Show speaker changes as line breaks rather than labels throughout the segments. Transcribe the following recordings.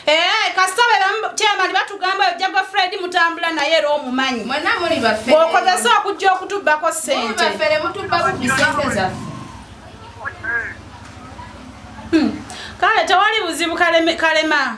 Eh, kasita bebamutyamali batugamba oyo jagwa fred mutambula naye era omumanyi
okozesa okujja
okutubbako sente hmm. kale tewali buzibu kalema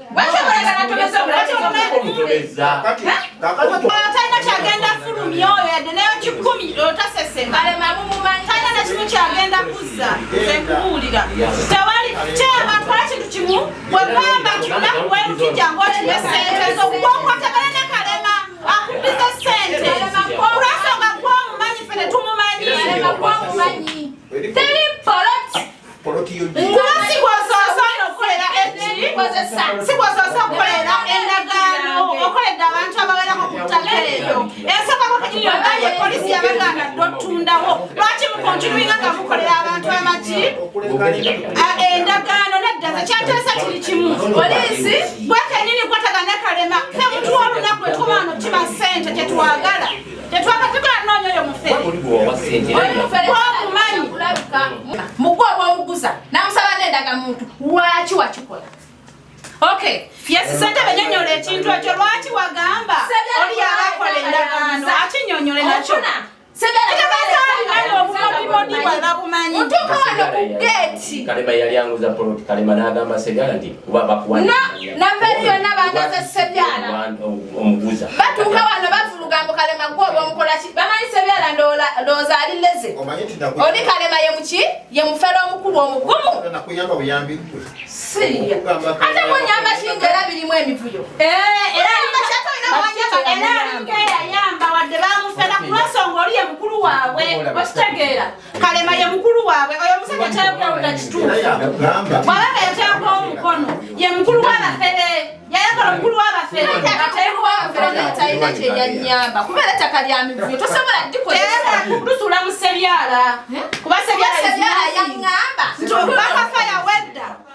talina kyagenda fulumya oyo yadde nayo kikumi otasese talina
nakimu kyagenda
kuzza nze nkubuulira tewali kyaba kola kintu kimu wegamba kikunaku werukijja ng'okiwa esente zokukwokwatabana ne kalema akubbiza sente olwensonga gwomumanyi fe netumumanyi
poloti yo nyo kuba
sikwasosa okukolera ekiri sikwasosa okukolera endagaano okoledde abantu abawerako ku ttaka eryo esokako kenyiniyo naye polisi yabaganda totundawo lwaki mukontinuinga nga mukolera abantu amaki endagaano nedda ze kyateesa kiri kimu polisi gwe kenyini kwatagana kalema fe mutuwa olunaku etukomaano kima sente kyetwagala
mugwa obwomuguza namusaba nendaga muntu waki wakikola
okay fyesi sente benyonyola ekintu ekyo lwaki wagamba oli yabakola endagaano akinyonyole nakyo obukodibodibalabumanyi
otuka wano ku geeti kalema yali anguza poloti kalema nagamba segala ndi navebyonna
bangaze sebyala
batuuka wano
bavuluga mbu kalema gwe oba omukolaki bamanyi sebyala ndowooza ali leze oli kalema ye muki ye mufere omukulu omugumu ate munyamba kinga era birimu emivuyo yayamba
wadde bamufera kulwensonga oli ye mukulu waabwe okitegeera kalema ye mukulu waabwe oyo omusajja kyayakulawula kituufu bwabanga yateekwa omukono ye mukulu w'abafere yayagala omukulu w'abafere
talina kyeyanyamba kuba era ettaka lya mivuyo tosobola dikolusula mu
sebyala kuba sebyala yaŋŋamba
nti obubakafa
yawedda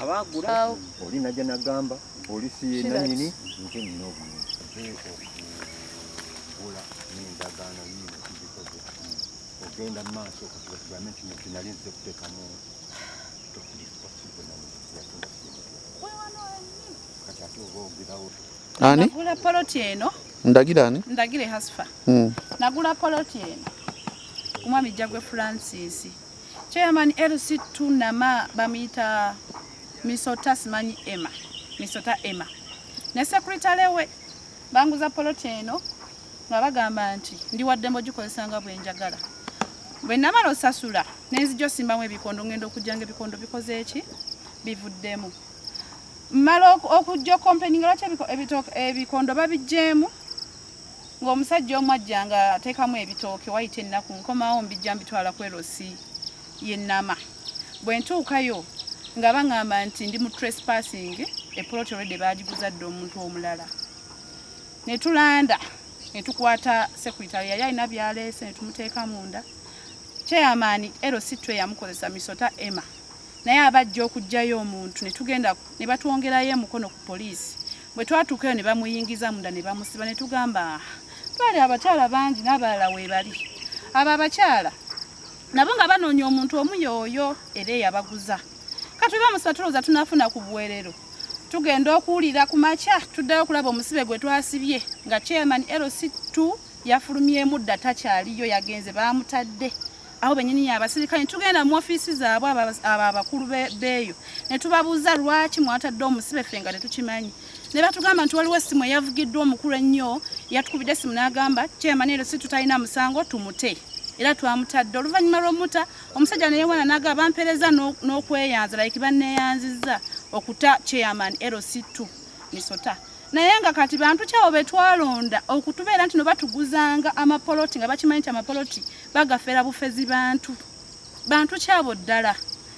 abaagula oli najja nagamba poliisi yenanyini nze nina obulungi okugula nendagaano yiino kizikoze ogenda mu maaso okugame kino kinali nze kutekamu kati ate oba ogirawo ani nagula
poloti
eno ndagira ani
ndagire hasfa hmm.
nagula poloti eno omwami jjagwe francis Chairman LC tunama bamuyita misota simanyi Emma misota Emma ne secretary we banguza poloti eno nga bagamba nti ndi waddembe ogikozesa nga bwenjagala bwe namala osasula nenzija osimbamu ebikondo ngenda okujja nga ebikondo bikoze eki bivuddemu mmala okujja okompeninga lwaki ebikondo babigyemu ng'omusajja omu ajja nga ateekamu ebitooke wayita ennaku nkomawo mbijja mbitwala ku erosi y'ennama bwe ntuukayo nga baŋŋamba nti ndi mu trespassing epoloti olwedde baagiguza dda omuntu omulala ne tulanda ne tukwata sekuritale yali alina byaleese ne tumuteeka munda chairman erosi twe yamukozesa misota emma naye abajja okugjayo omuntu netugenda nebatwongerayo emukono ku poliisi Bwe twatuukayo ne bamuyingiza munda ne bamusiba ne tugamba twali abakyala bangi n'abalala weebali abo abakyala nabo nga banoonya omuntu omu yooyo era eyabaguza kati bamusiba tulowooza tunafuna ku buwerero tugenda okuwulira ku makya tuddayo okulaba omusibe gwe twasibye nga chairman lc2 yafulumyemu dda takyaliyo yagenze baamutadde abo benyini yabasirikale tugenda mu ofiisi zaabwe abo abakulu beeyo ne tubabuuza lwaki mwatadde omusibe ffe nga tetukimanyi ne batugamba nti waliwo essimu eyavugiddwa omukulu ennyo yatukubidde essimu n'agamba kyemani ero si tutalina musango tumute era twamutadde oluvannyuma lw'omuta omusajja neyewana naga bampereza n'okweyanza like banneyanzizza okuta chairman lc2 misota naye nga kati bantu kyawo betwalonda okutubeera nti nobatuguzanga amapoloti nga bakimanyi nti amapoloti bagafera bufezi bantu bantu kyabo ddala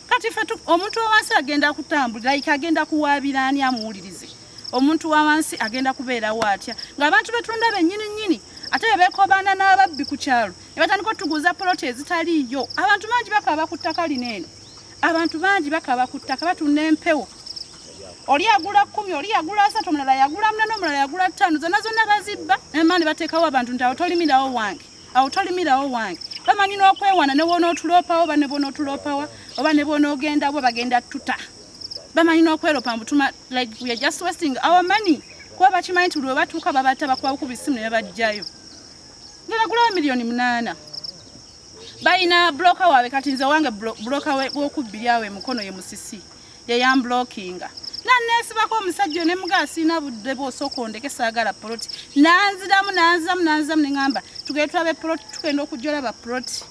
kati fe omuntu wawansi agenda kutambulira like agenda kuwaabira ani amuwulirize omuntu wawansi agenda kubeerawo atya ngaabantu betunda benyini nyini ate bebekobaana n'ababbi ku kyalo ne batandika otuguza poloti ezitaliiyo abantu bangi bakaba ku ttaka lino eno abantu bangi bakaba ku ttaka batunda empewo oli yagula kumi oli yagula asatu omulala yagula munana omulala yagula ttaano zonna zonna bazibba ema ne bateekawo abantu nti awo tolimirawo wange awo tolimirawo wange bamanyi n'okwewana ne bwonootuloopawo oba ne bwonootuloopawa oba ne bwonoogenda bwe bagenda tuta bamanyi n'okweropa mbutuma like we are just wasting our money kuba bakimanyi nti lwe batuuka babata bakubabuku bisimu ne babajjayo ngenagulawo miliyoni munaana balina buloka waabwe kati nze wange buloka w'okubbiri awo emukono ye musisi yeyambulokinga nanesibako omusajja ne mugaa siina budde bwosooka ondeke saagala poloti nanziramu nanziramu nanziramu neŋamba tugee tulabe poloti tugenda okujja olaba poloti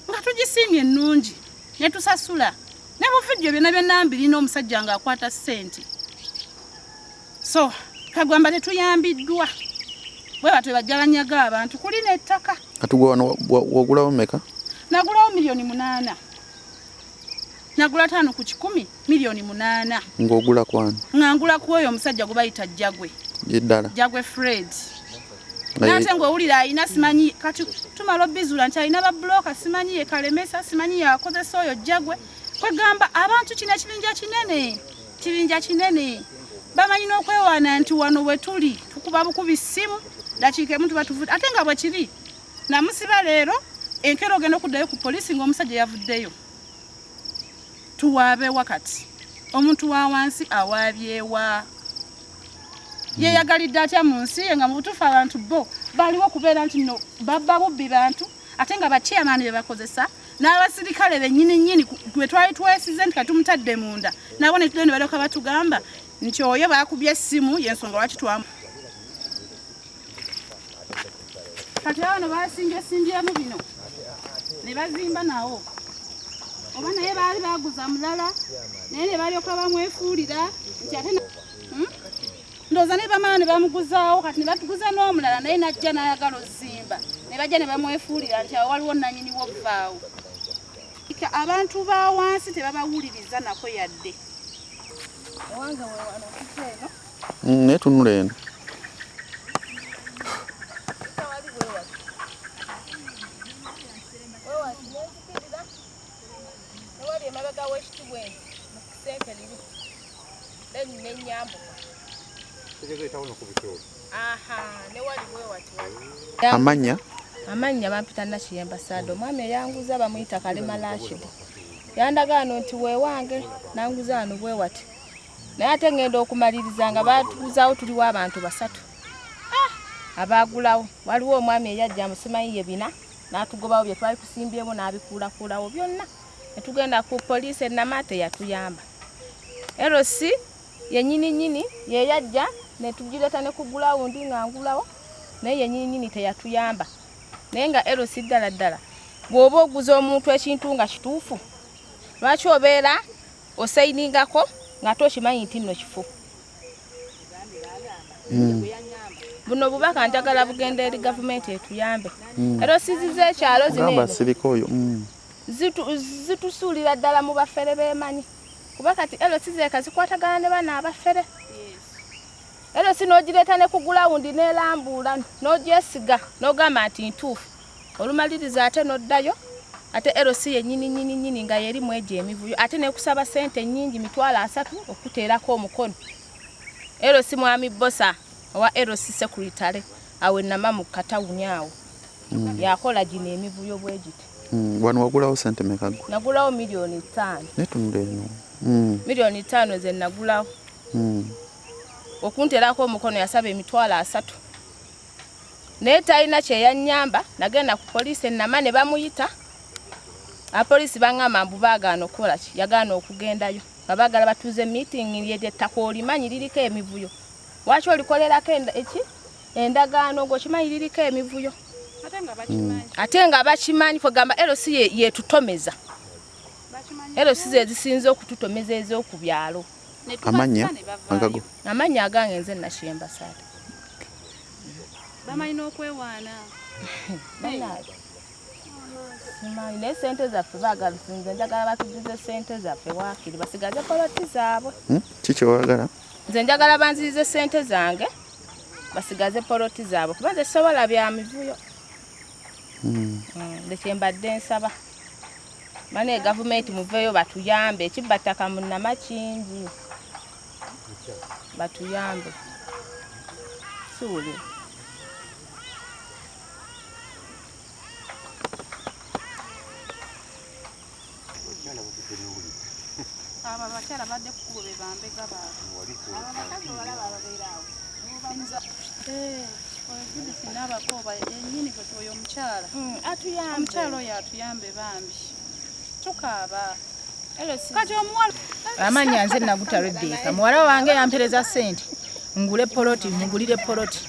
nga tugisiimye ennungi ne tusasula ne buvidiyo byona byonna mbirina omusajja nga akwata ssente so kagwamba tetuyambiddwa bwe batwe bajja banyaga abantu kuli n'ettaka katugwa wano
wagulawo meka nagulawo miliyoni
munaana nagula taano ku kikumi miliyoni munaana ng'ogula kwani nga ngula ku oyo omusajja
gwe
bayita jjagwe ddala jjagwe fred nate ng'owulira alina simanyi kati tumala obizuula nti alina babuloka simanyi ye kalemesa simanyi yakozesa oyo jjagwe kwegamba abantu kino ekibinja kinene kibinja kinene bamanyi n'okwewaana nti wano we tuli tukuba bukubi ssimu dakiika emu tuba tuvudde ate nga bwe kiri namusiba leero enkero ogenda okuddayo ku poliisi ng'omusajja yavuddeyo tuwaabe wa kati omuntu wa wansi awaabyewa hmm. yeyagalidde atya mu nsi ye nga mu butuufu abantu bo baliwo okubeera nti no babba bubbi bantu ate nga bachairman be bakozesa n'abasirikale bennyini nnyini gwe twali twesize nti katumutadde munda nabo netude ne balyoka batugamba nti oyo bakubye essimu yensonga lwaki twamu kati abano basinjasimbyamu bino ne bazimba nawo oba naye baali baguza mulala naye ne balyoka bamwefuulira nti ate hmm? ndooza naye bamala ne bamuguzaawo kati ne batuguza n'omulala naye najja n'ayagala ozimba ne bajja ne bamwefuulira nti awo waliwo nanyini wobvaawo abantu ba wansi tebabawuliriza nako yadde Mm, naye tunula
eno
amanya amannya bampita nakiyemba saada omwami eyanguza bamuyita kalema lashidi yandagaano nti wewange nanguza ano bwewati naye ate ngenda okumaliriza nga batuuzaawo tuliwo abantu basatu ah! abaagulawo waliwo omwami eyajja musimayi ye bina n'atugobawo bye twali tusimbyemu n'abikuulakuulawo byonna ne tugenda ku poliisi ennama teyatuyamba rc yenyini nyini yeyajja ne tugireeta ne ku gulawundi nga ngulawo naye yenyini nyini teyatuyamba naye nga rc ddala ddala bw'oba oguza omuntu ekintu nga kituufu lwaki obeera osayiningako ngate okimanyi nti nno kifu hmm. buno obubaka njagala bugenda eri gavumenti etuyambe hmm. era osiziza ekyalo zinobasirikaoyo hmm. zitusuulira ddala mu bafere bemanyi kuba kati elosi zeka zikwatagana ne bana abafere elosi nogireeta ne ku gulawundi nelambuula nogyesiga nogamba nti ntuufu olumaliriza ate n'oddayo ate LC yennyini nnyini nnyini nga yeri mu egyo emivuyo ate nekusaba ssente nnyingi mitwalo asatu okukuteerako omukono LC mwami Bosa owa LC Secretary awe nama mu katawuni awo hmm. yakola gino emivuyo bwegiti hmm, wano wagulawo
ssente mekago nagulawo miliyoni
ttaano netunula eno
hmm. miliyoni ttaano
ze nagulawo okunteerako omukono yasaba emitwalo asatu naye talina kyeyanyamba nagenda ku poliisi enama ne bamuyita apoliisi baŋamba mbu baagaana okukola ki yagaana okugendayo nga baagala batuuze meeting lyeryettaka olimanyi liriko emivuyo waki olikolerako eki endagaano ngaokimanyi liriko emivuyo ate nga bakimanyi mm. kwegamba lc yetutomeza lc zezisinza okututomeza ezokubyalo ye amannya agago amannya agange nze nashemba saada bamanyi
n'okwewaana banaabwe
simanyi naye sente zaffe baagala nze njagala batujuze sente zaffe waakiri basigaze poloti zaabwe hmm? kikyowagala
nze njagala
banzirize sente zange basigaze poloti zaabwe kuba nze sisobola bya mivuyo hmm. Hmm, ndekyembadde nsaba Mane gavumenti muveeyo batuyambe ekibba ttaka mu Namakingi batuyambe kiwulira
abo abakyala badde kukubo be bambega baabwe oyo omukyala mm, atuyambe omukyala oyo atuyambe bambi tukaaba kati omuwala amanya nze
naguta rebeka muwala wange yampereza sente ngule poloti mugulire poloti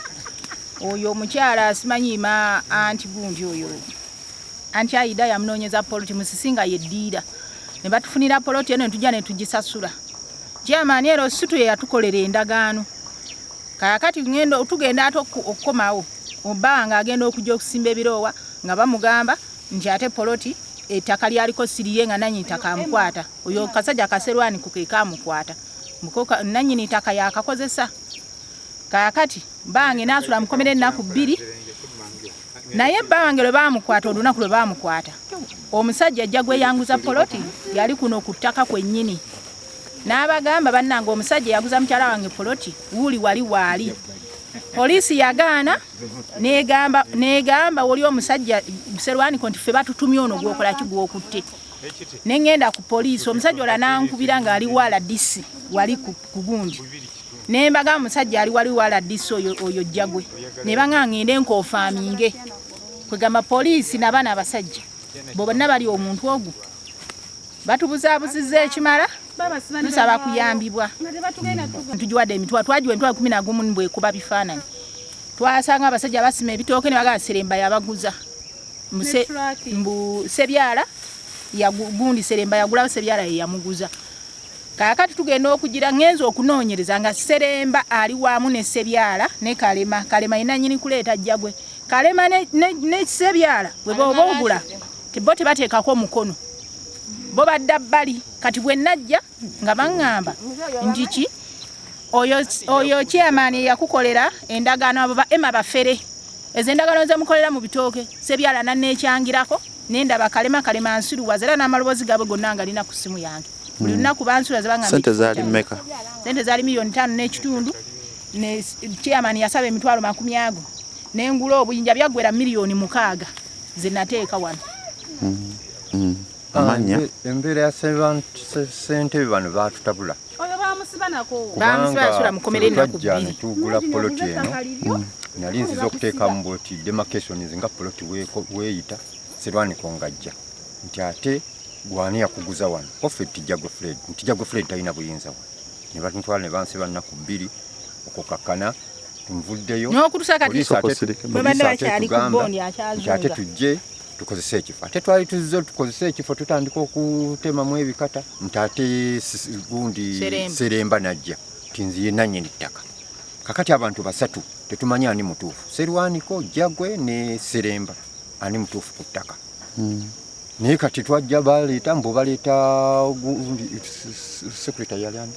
oyo omukyala asimanyiima anti gundi oyo anti ayida yamunoonyeza poloti musisinga yeddiira ne batufunira poloti eno netujja netugisasula kyamaani era osutu yeyatukolera endagaano Kaakati tugenda ate okukomawo obawa ng'agenda okujja okusimba ebiroowa nga bamugamba nti ate poloti ettaka lyaliko siriye nga nanyini ttaka amukwata oyo kasajja kaserwani kukeeka amukwata nanyini ttaka yakakozesa kaakati
bange naasula mukomera ennaku bbiri naye bba wange lwe baamukwata olunaku lwe baamukwata omusajja ajja gweyanguza poloti yali kuno ku ttaka kwennyini n'abagamba bannange omusajja eyaguza mukyala wange poloti wuuli wali waali poliisi yagaana negamba woli omusajja serwaniko nti fe batutumye ono gwokola ki gwokutte ne ŋŋenda ku poliisi omusajja ola nankubira ng'ali wala disi wali ku gundi ne mbaga omusajja ali wali wala disi oyo jjagwe ne baŋa ŋŋende nkofaaminge kwegamba poliisi nabaana abasajja bonna bali omuntu ogwo batubuzabuziza ekimala tusaba kuyambibwa tugiwadde emitwa twagiwa emitwa kumi nagumu nibwekuba bifaananyi twasanga abasajja basima ebitooke ne bagala seremba yabaguza mbu sebyala gundi seremba yagulawo sebyala yeyamuguza kakati tugenda okugira ngenza okunoonyereza nga seremba ali wamu ne sebyala ne kalema kalema yenanyini kuleeta jjagwe kalema ne sebyala weba oba ogula bo tebateekako omukono bo badda bbali kati bwe najja nga baŋŋamba nti ki oyo chairman eyakukolera endagaano abo ba ema bafere ezo endagaano zemukolera mu bitooke sebyala nanekyangirako nendaba kalema kalema nsiruwaza era n'amaloboozi gaabwe gonna nga lina ku ssimu yange buli hmm. lunaku bansiruwaza bangasente zaali mmeka
sente zaali miliyoni
ttaano n'ekitundu ne chairman yasaba emitwalo makumi ago nengula obuyinja byaggwera miliyoni mukaaga ze nateeka wano mm, mm. ah,
amanya embeera ya
ssentebe bano
baatutabula tugula poloti
eno mm. nali nziza okuteekamu bwoti demarcations nga poloti weeyita serwaniko ngajja nti ate gwani yakuguza wano offe tijja gwe fred nti jja gwe fred talina buyinza wano ne bantwala ne bansiba nnaku bbiri okukakkana nvuddeyo n'okutusa kati babadde bakyali ku bondi akyazunga ate tujje tukozese ekifo ate twali tuzze tukozese ekifo tutandika okutemamu ebikata nti ate gundi seremba najja ti nziye nanyini ttaka kakati abantu basatu tetumanyi ani mutuufu serwaniko jagwe ne seremba ani mutuufu ku ttaka hmm. naye kati twajja baleeta mbu baleeta gundi secretary yali ani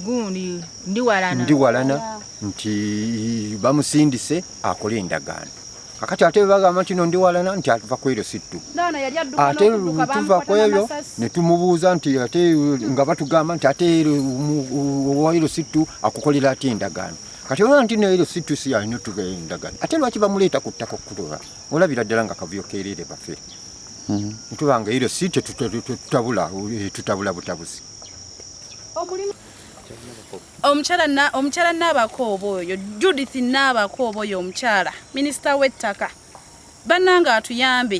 gundi
ndiwalana ndiwalana nti bamusindise akole endagaano kakati ate bagamba nti no ndiwalana nti atuva ku eryo sittu ate tuva ku ebyo ne tumubuuza nti ate nga batugamba nti ate owa eryo sittu akukolera ate endagaano kati olaba nti no eryo sittu si yalina otugayo endagaano ate lwaki bamuleeta ku ttaka okutuba olabira ddala nga kavuyo keereere bafe hmm. ntuba nga ero si tetutabula eh, tutabula butabuzi omukyala naabakooba oyo judith naabakooba oyo omukyala minisita w'ettaka bannanga atuyambe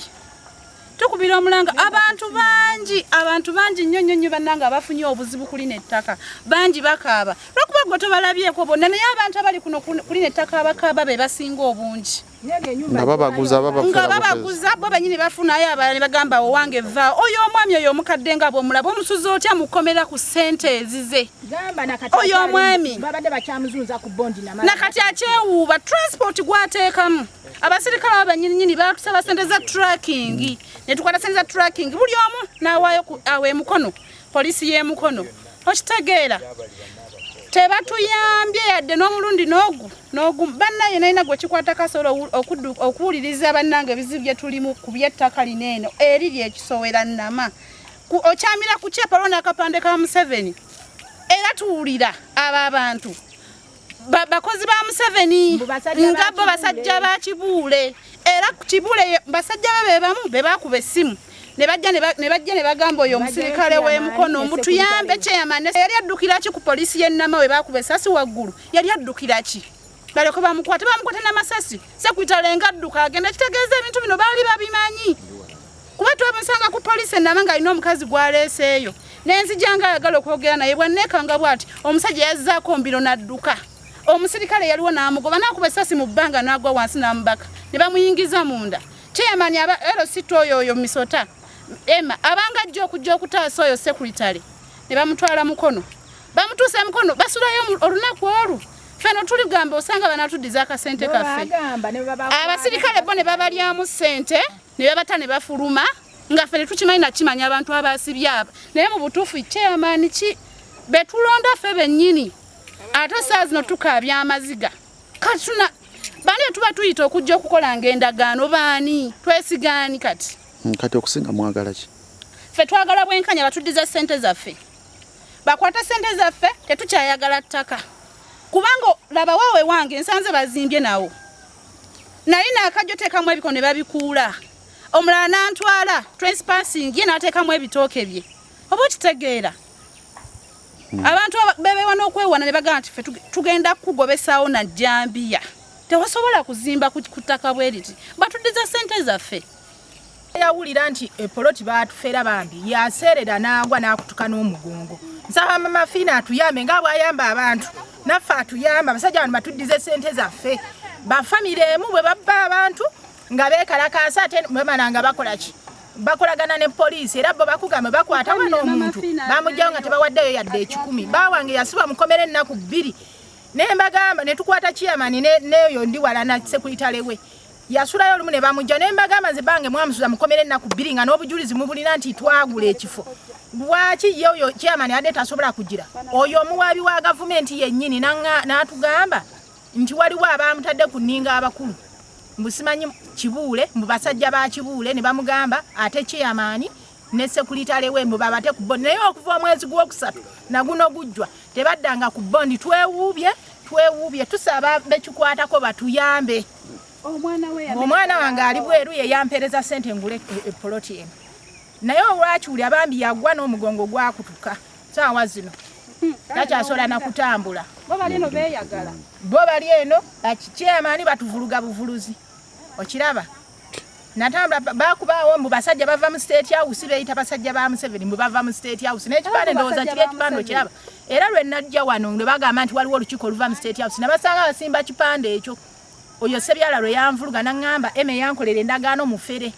tukubira omulanga abantu bangi abantu bangi nnyo nnyo nnyo bannanga abafunye obuzibu ku lino ettaka bangi bakaaba lwakuba gwe tobalabyeko bonna naye abantu abali kuno ku lino ettaka abakaaba be basinga obungi nga
babaguza nga babaguza bo benyini
bafunayo abalala ne bagamba owange va oyo omwami oyo omukadde nga bwomulaba omusuza otya mukomera ku sente ezize oyo omwami nakati akyewuuba transport gwateekamu abasirikale abo banyininyini batusaba sente za tracking netukwata sente za tracking buli omu nawaayo awo emukono Poliisi y'e Mukono okitegeera tebatuyambye yadde n'omulundi n'ogu n'ogu bannaye nalina gwe kikwata kasobola okuwuliriza bannange ebizibu bye tulimu ku by'ettaka lino eno eri lyekisowera nama okyamira ku kyepalwo n'akapande ka Museveni era tuwulira abo abantu bakozi ba museveni nga bo basajja ba kibuule era ku kibuule basajja be bebamu bebakuba essimu nebajja nebagamba oyo omusirikale wemukono mutuyambe chairman yali addukiraki ku polisi yenama webakuba esasi waggulu yali addukiraki baleko bamukwate bamukwate namasasi sekuyitalenga adduka agenda kitegeeza ebintu bino baali babimanyi kuba twamusanga ku poliisi enaba ng'alina omukazi gwaleeseeyo nenzija nga ayagala okwogera naye bwanneekanga bwati omusajja yazzaako mbiro n'adduka omusirikale yaliwo n'amugoba n'akuba essasi mu bbanga n'agwa wansi n'amubaka ne bamuyingiza munda chairman aba lct oyo oyo misota ema abanga ajja okujja okutaasa oyo sekuritale ne bamutwala mukono bamutuusa mukono basulayo olunaku olwo feno tuli gamba osanga banatuddiza akasente kaffe abasirikale bo ne babalyamu ssente ne babata ne bafuluma nga ffe tetukimanyi nakimanya abantu abaasibye abo naye mu butuufu chairman ki betulonda ffe bennyini ate saa zino tukaabya amaziga katuna bani etuba tuyita okujja okukolanga endagaano baani twesigaani kati hmm, kati okusinga mwagala
ki ffe twagala
bwenkanya batuddiza ssente zaffe bakwata ssente zaffe tetukyayagala ttaka kubanga labawo ewange nsanze bazimbye nawo nalina akajjo teekamu ebiko ne babikuula omulala nantwala transpassing ye nateekamu ebitooke bye oba okitegeera hmm. abantu bebewa n'okwewana ne bagamba nti fe tugenda kukugobesaawo na jambiya tewasobola kuzimba ku ttaka bwe liti batuddiza ssente zaffe yawulira
nti epoloti batufera bambi yaseerera n'agwa n'akutuka n'omugongo nsaba mama fiina atuyambe nga bwayamba abantu naffe atuyamba abasajja bano batuddize sente zaffe bafamire emu bwe babba abantu nga beekalakaasa ate bamala nga bakola ki bakolagana ne poliisi era bo bakugamba bakwata wano omuntu bamugjawo nga tebawaddeyo yadde ekikumi bawange yasibwa mukomera ennaku bbiri ne mbagamba ne tukwata kiyamani neyo ndi wala na sekulitalewe yasulayo olumu ne bamujja ne mbagamba nze bange mwamusuza mukomere ennaku bbiri nga n'obujulizi mubulina nti twagula ekifo lwaki ye oyo chairman ade tasobola kugira oyo omuwaabi wa gavumenti yennyini n'atugamba nti waliwo abaamutadde ku nninga abakulu mbusimanyi kibuule mbu basajja ba kibuule ne bamugamba ate chairman ne sekulitale we mbu babate ku bondi naye okuva omwezi gw'okusatu naguno gujjwa tebaddanga ku bondi twewuubye twewuubye tusaba bekikwatako batuyambe omwana wange ali bweru yeyampereza sente ngule epoloti e, e eno naye olwakiwuli abambi yagwa n'omugongo gwakutuka saawa zino hmm, takyasobola nakutambula
bo bali eno
bakikyemani batuvuluga buvuluzi okiraba natambula bakubaawo mbu basajja bava mu state house beyita basajja ba museveni mbu bava mu state house naye kipande ndowooza kiri ekipande okiraba era lwe najja wano ne bagamba nti waliwo olukiiko oluva mu state house nabasanga basimba kipande ekyo oyo sebyala lwe yanvuluga naŋŋamba eme yankolera endagaano mufere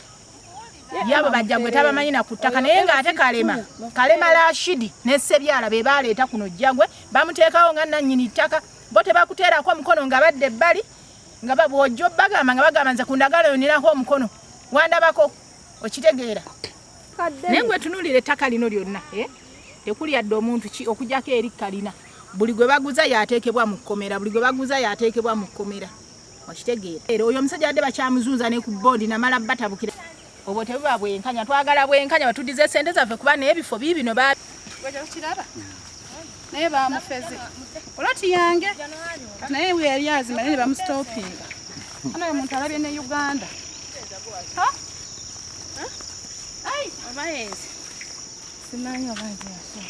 yabo bajja gwe tabamanyi na ku ttaka naye ng'ate kalema kalema lashidi ne sebyala be baaleeta kuno jjagwe bamuteekawo nga nannyini ttaka bo tebakuteerako omukono nga badde ebbali nga bwojjo bagamba nga bagamba nze kundagala yonirako omukono wandabako okitegeera naye gwe tunulira ettaka lino lyonna eh? tekuli yadde omuntu ki okujako eri kalina buli gwe baguza yateekebwa mu kkomera buli gwe baguza yateekebwa mu kkomera okitegeera era oyo omusajja badde bakyamuzunza ne ku bondi namala batabukira obwo tebuba bwenkanya twagala bwenkanya batudize sente zaffe kuba nebifo bibino bakiraba
naye bamufeze oloti yange naye weyali azima naye nebamusitopinga ana oyo muntu alabye ne uganda obaezi simanyi obaezi yaso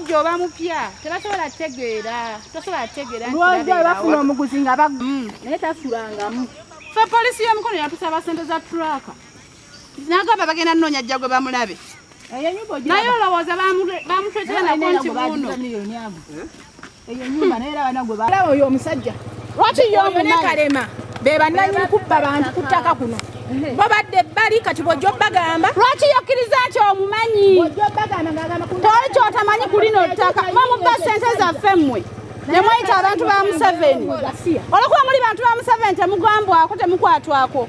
omusajja oba mupya tebasobola kutegeera tosobola kutegeera lwoja bafuna omuguzi nga bagu mm. naye tasulangamu fe polisi y'omukono yatusaba sente za turaka nagamba bagenda noonya jja gwe bamulabe naye olowooza bamutwetera nako nti buno eyo nyumba naye era bana gwe balaba oyo omusajja lwaki yo omune kalema be bananyini kubba bantu ku ttaka kuno babadde bali kati bwojja obbagamba lwaki yokkiriza
nti omumanyi toli kyotamanyi ku lino ttaka mamubba sente zaffe mmwe nemweyita abantu ba museveni olwokuba muli bantu ba museveni temugambwako temukwatwako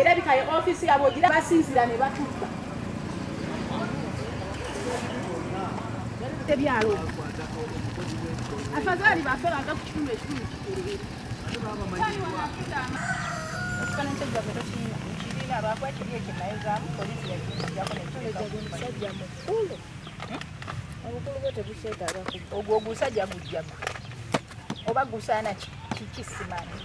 erabika ye ofiisi yabwe ogira basinzira ne batubba ebyalo afadhali bafe baga ku kitundu ekitundu kikulu ogwo ogusajja gujjaga oba gusaana kikisimanyi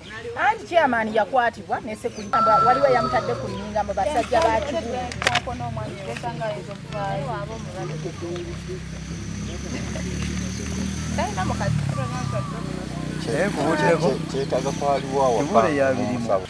anti chairman yakwatibwa nesekulamba waliwo yamutadde ku nninga mu basajja ba
kibuga kyetaga kwaliwo awaka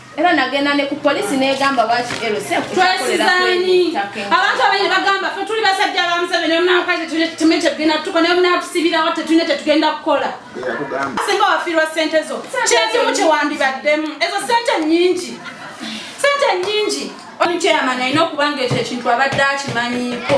era nagenda
ne ku polisi negamba lwaki lctwesizaanyi
abantu abaine bagamba fe tuli basajja ba museveni omunakazi tume kyetugenda tukola naye omunatusibirawo tetulina kyetugenda kukola singa wafiirwa sente zo kyekimu kyewandibaddemu ezo sente nyingi sente nyingi omukyeyamani alina okuba nga ekyo ekintu abadde akimanyiiko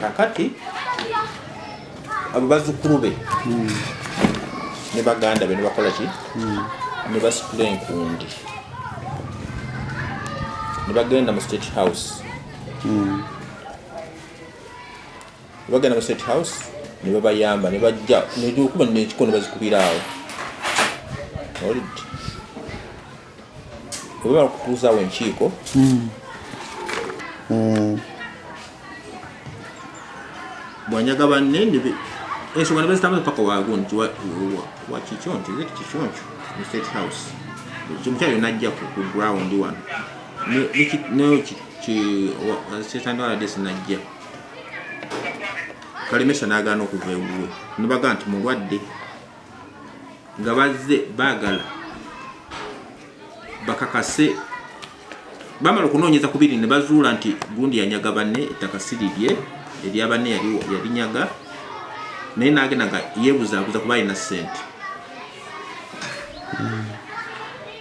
kakati abo bazukulu be hmm. ne baganda be ne bakola ki hmm. ne basitula enkundi ne bagenda mu state house hmm. ne bagenda mu state house ne babayamba ne bajja neokuba nekiko ne bazikubira awo webala kutuuzawo enkiiko hmm. Hmm. bwanyaga banne ensonga nebazitambuza paka waago nti wakikyo nti ze kikyo nkyo mu state house omukyalo najja ku ground wano nekitandawaladesi najja kalemesa nagaana okuva ewuwe nebaga nti mulwadde nga bazze baagala bakakase bamala okunoonyeza ku biri ne bazuula nti gundi yanyaga banne ettaka si lirye erya banne yalinyaga naye naagenda nga yeebuzaabuza kuba alina ssente hmm.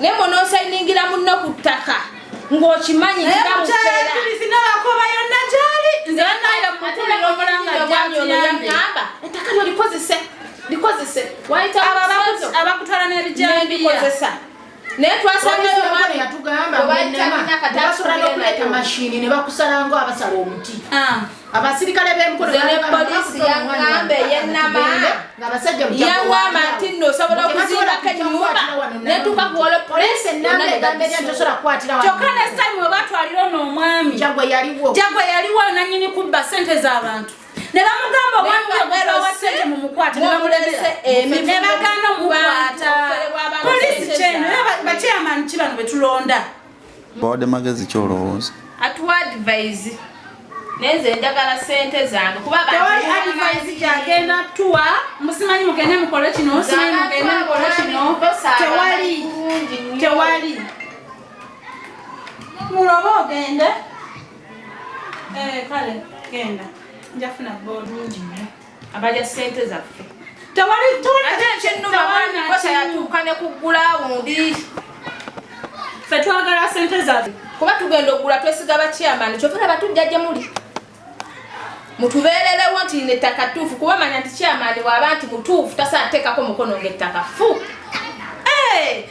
naye mona osayiningira munno ku ttaka ng'okimanyi kiramuseerabakoba
yonna gyali nzeaomulangaaamba
ettaka lyo likozese likozese
wayitaabakutwala n'ebijambikozesa
naye twasangayo omwami yatugamba
basobola nokuleeta mashini ne bakusalango abasala omuti ah. abasirikale b'emukolopoliisiyaŋambe
yenama yaŋama nti nno osobola okuzimbako enyumba netuuka kuwolo poliisi
kyokka nesitime oba
twalira ono omwami jagwe
yaliwo nanyini kubba
sente z'abantu ne bamugamba obwaniwasente mumukwate nebamulemese nebagana omukwata poliisi kyeno bakyeyamani kibano betulonda Bawadde
magezi ki olowooza? Atuwa advise
naye nze njagala sente zange kuba tewali advise
gyagenda tuwa musimanyi mugende mukole kino musimanyi mugende mukole kino tewali tewali muloba ogende eh, kale genda njafuna bulungi nyo abalya sente
zaffe
tewalikyatuuka
ne kuggula wundi
fe twagala sente zaffe kuba tugenda okugula
twesiga bakyamani kyova laba tujja gye muli mutubeererewo nti ne ttaka tuufu kuba manya nti kyamani waaba nti mutuufu tasatekako mukono ngaettaka fu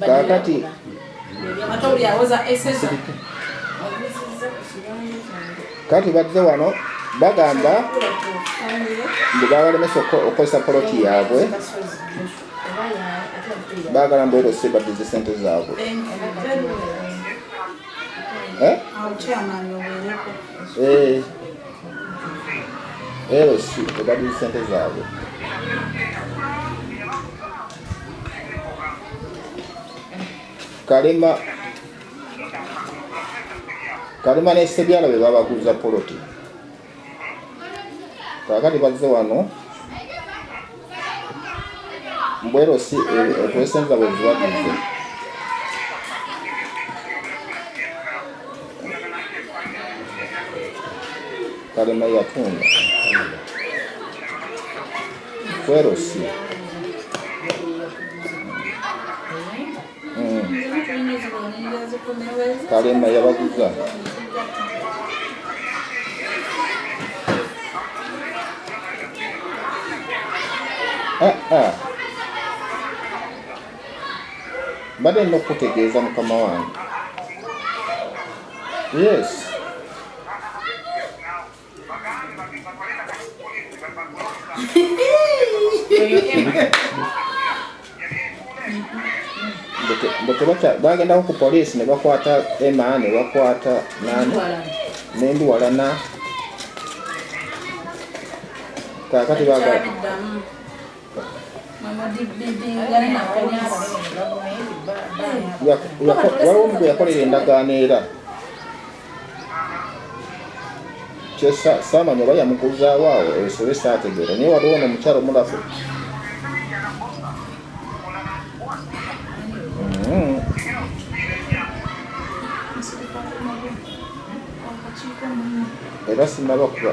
kakati kati badde wano bagamba mbu babalemesa okukozesa poloti yaabwe bagala mbu erose baddize sente zaabwe eh? eh. erosi ebaddize sente zaabwe kalema kalema ne sebyala be babaguza poloti kakati bazze wano mbwero si okwesenza eh, eh, bwezibagize kalema yatunda kwerosi kalema yabaguza mbadde nina okukutegeeza mukama wange yes bagendako ku poliisi ne bakwata ema ne bakwata nani nendiwalana kakati waliwo mugwe yakolera endagaano era saamanya oba yamukuzaawo awo esobe saategeera naye waliwo no omukyalo mulafu era sinaba kuba